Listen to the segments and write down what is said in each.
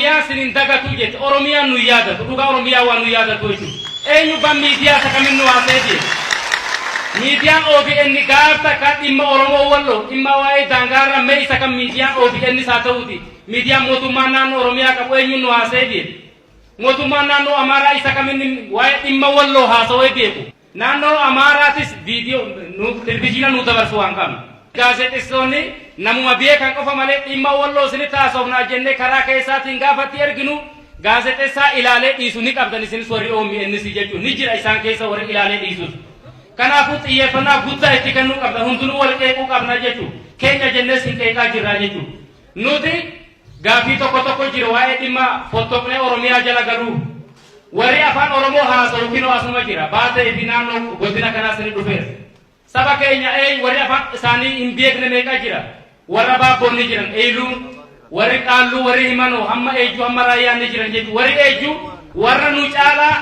Oromiyaan sin hin dagatuu jette. Oromiyaan nu hin yaadatu. Dhugaa Oromiyaan waan nu yaadatu jechuudha. Eenyu ban miidiyaa isa kamin nu haasa'ee deema. Miidiyaan OBN gaaf takka dhimma Oromoo Walloo dhimma waa'ee daangaarra mee isa kan miidiyaan OBN isaa ta'uuti. Miidiyaan mootummaan naannoo Oromiyaa qabu eenyuun nu haasa'ee deema. Mootummaan naannoo Amaaraa isa kamin waa'ee dhimma Walloo haasa'ee beeku. Naannoo Amaaraatis viidiyoo nuuf telvijiina nuuf dabarsu waan qabnu. Gaazexeessitoonni namuma beekan qofa malee dhimma Walloo isinitti haasofnaa jennee karaa keessaatiin gaafa itti erginu gaazexeessaa ilaalee dhiisu ni qabdan isinis warri OMNs jechuun ni jira isaan keessa warri ilaalee dhiisus. Kanaafuu xiyyeeffannaa guddaa itti kennuu qabna hundinuu wal qeequu qabna jechu keenya jennee isin qeeqaa jirraa jechu. Nuti gaaffii tokko tokko jira waa'ee dhimma fottoqnee Oromiyaa jala galuu Warri Afaan Oromoo haasawu kinoo asuma jira. Baatee fi naannoo godina kanaas ni dhufeera. Saba keenya eey warri afaan isaanii hin beekne meeqa jira. Warra Baabboon ni jiran, Eeyluun, warri Qaalluu, warri Himanoo, hamma Eejjuu, hamma Raayyaan ni jiran jechuudha. Warri Eejjuu warra nu caalaa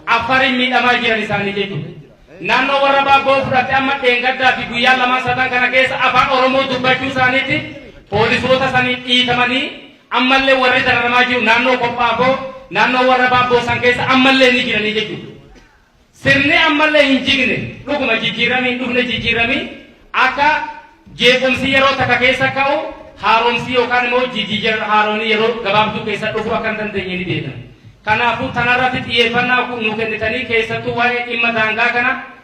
Affariin miidhamaa jiran isaanii jechuudha. Naannoo warra Baabboo fudhatte amma dheengaddaa fi guyyaa lamaan satan kana keessa afaan Oromoo dubbachuu isaaniitiin poolisoota sanii dhiitamanii Ammallee warri dararamaa jiru naannoo Kophaafoo, naannoo warra Baabboo san keessa ammallee ni jiranii jechuudha. Sirni ammallee hin jigne dhuguma jijjiirramni hin dhufne jijjiirramii akka jeequmsi yeroo takka keessa ka'u haaromsi yookaan immoo jijjiirra haaroonni yeroo gabaabduu keessa dhufu akka hin dandeenye ni beekna. Kanaafuu tanarratti xiyyeeffannaa nu kennitanii keessattuu waa'ee dhimma daangaa kana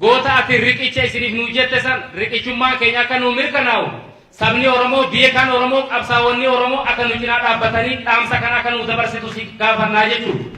Goota ati riqicha isiniif nuu jette san riqichummaan keenya akka nuu mirkanaa'u sabni Oromoo, beekaan Oromoo, qabsaawonni Oromoo akka nu cinaa dhaabbatanii dhaamsa kana akka nuu dabarsitu si gaafanna jechuudha.